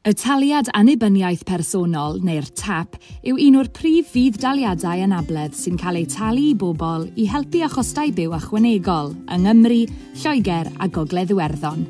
Y Taliad Annibyniaeth Personol, neu'r TAP, yw un o'r prif fudd-daliadau anabledd sy'n cael eu talu i bobl i helpu â chostau byw ychwanegol yng Nghymru, Lloegr a Gogledd Iwerddon.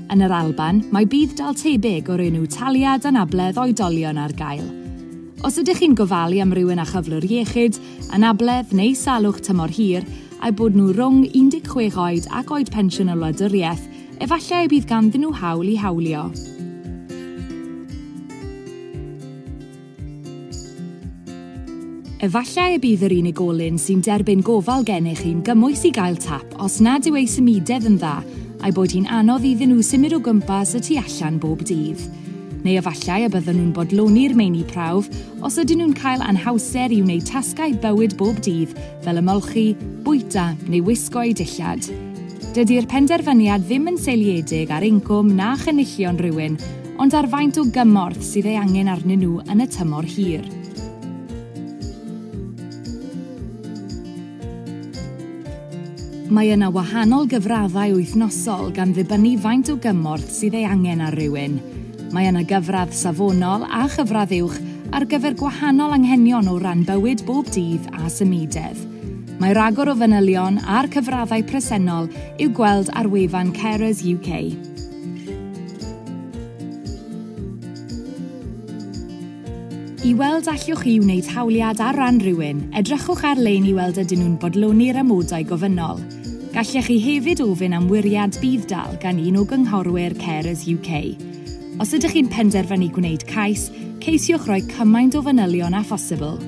Yn yr Alban, mae budd-dal tebyg o'r enw Taliad Anabledd Oedolion ar gael. Os ydych chi'n gofalu am rywun â chyflwr iechyd, anabledd neu salwch tymor hir, a'u bod nhw rhwng 16 oed ac oed pensiwn y wladwriaeth, Efallai y bydd ganddyn nhw hawl i hawlio. Efallai y bydd yr unigolyn sy'n derbyn gofal gennych chi'n gymwys i gael tap os nad yw ei symudedd yn dda a'i bod hi'n anodd iddyn nhw symud o gwmpas y tu allan bob dydd. Neu efallai y byddwn nhw'n bodloni'r meini prawf os ydyn nhw'n cael anhawster i wneud tasgau bywyd bob dydd fel ymolchi, bwyta neu wisgo'u dillad. Dydi'r penderfyniad ddim yn seiliedig ar incwm na chynullion rhywun, ond ar faint o gymorth sydd ei angen arnyn nhw yn y tymor hir. Mae yna wahanol gyfraddau wythnosol gan ddibynnu faint o gymorth sydd ei angen ar rywun. Mae yna gyfradd safonol a chyfradd uwch ar gyfer gwahanol anghenion o ran bywyd bob dydd a symudedd. Mae rhagor o fanylion a'r cyfraddau presennol i'w gweld ar wefan Carers UK. I weld allwch chi wneud hawliad ar ran rhywun, edrychwch ar-lein i weld ydyn nhw'n bodloni'r amodau gofynnol. Gallech chi hefyd ofyn am wiriad budd-dal gan un o gynghorwyr Carers UK. Os ydych chi'n penderfynu gwneud cais, ceisiwch roi cymaint o fanylion â phosibl.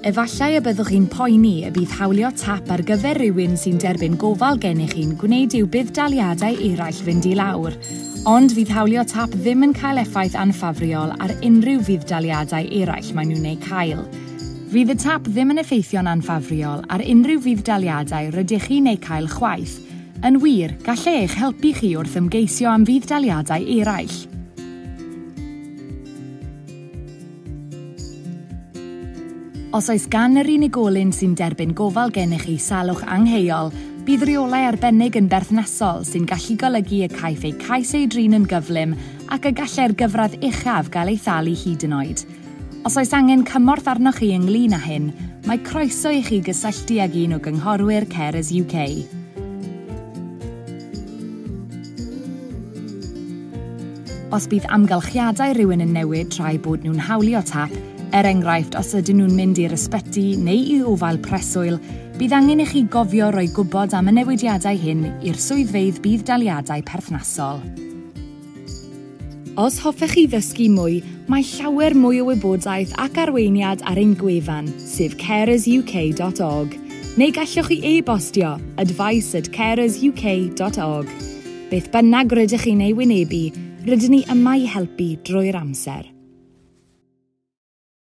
Efallai y byddwch chi'n poeni y bydd hawlio tap ar gyfer rhywun sy'n derbyn gofal gennych chi'n gwneud i'w budd-daliadau eraill fynd i lawr, Ond fydd hawlio tap ddim yn cael effaith anffafriol ar unrhyw fudd-daliadau eraill maen nhw'n eu cael. Fydd y tap ddim yn effeithio'n anffafriol ar unrhyw fudd-daliadau rydych chi'n eu cael chwaith. Yn wir, gall e eich helpu chi wrth ymgeisio am fudd-daliadau eraill. Os oes gan yr unigolyn sy'n derbyn gofal gennych chi salwch angheuol, bydd rheolau arbennig yn berthnasol sy'n gallu golygu y caiff eu cais ei drin yn gyflym ac y gallai'r gyfradd uchaf gael ei thalu hyd yn oed. Os oes angen cymorth arnoch chi ynglŷn â hyn, mae croeso i chi gysylltu ag un o gynghorwyr Carers UK. Os bydd amgylchiadau rhywun yn newid tra'i bod nhw'n hawlio tap, er enghraifft os ydyn nhw'n mynd i'r ysbyty neu i ofael preswyl, bydd angen i chi gofio roi gwybod am y newidiadau hyn i'r swyddfeydd budd-daliadau perthnasol. Os hoffech chi ddysgu mwy, mae llawer mwy o wybodaeth ac arweiniad ar ein gwefan, sef carersuk.org, neu gallwch chi e-bostio, advice at carersuk.org. Beth bynnag rydych chi'n ei wynebu, rydyn ni yma i helpu drwy'r amser.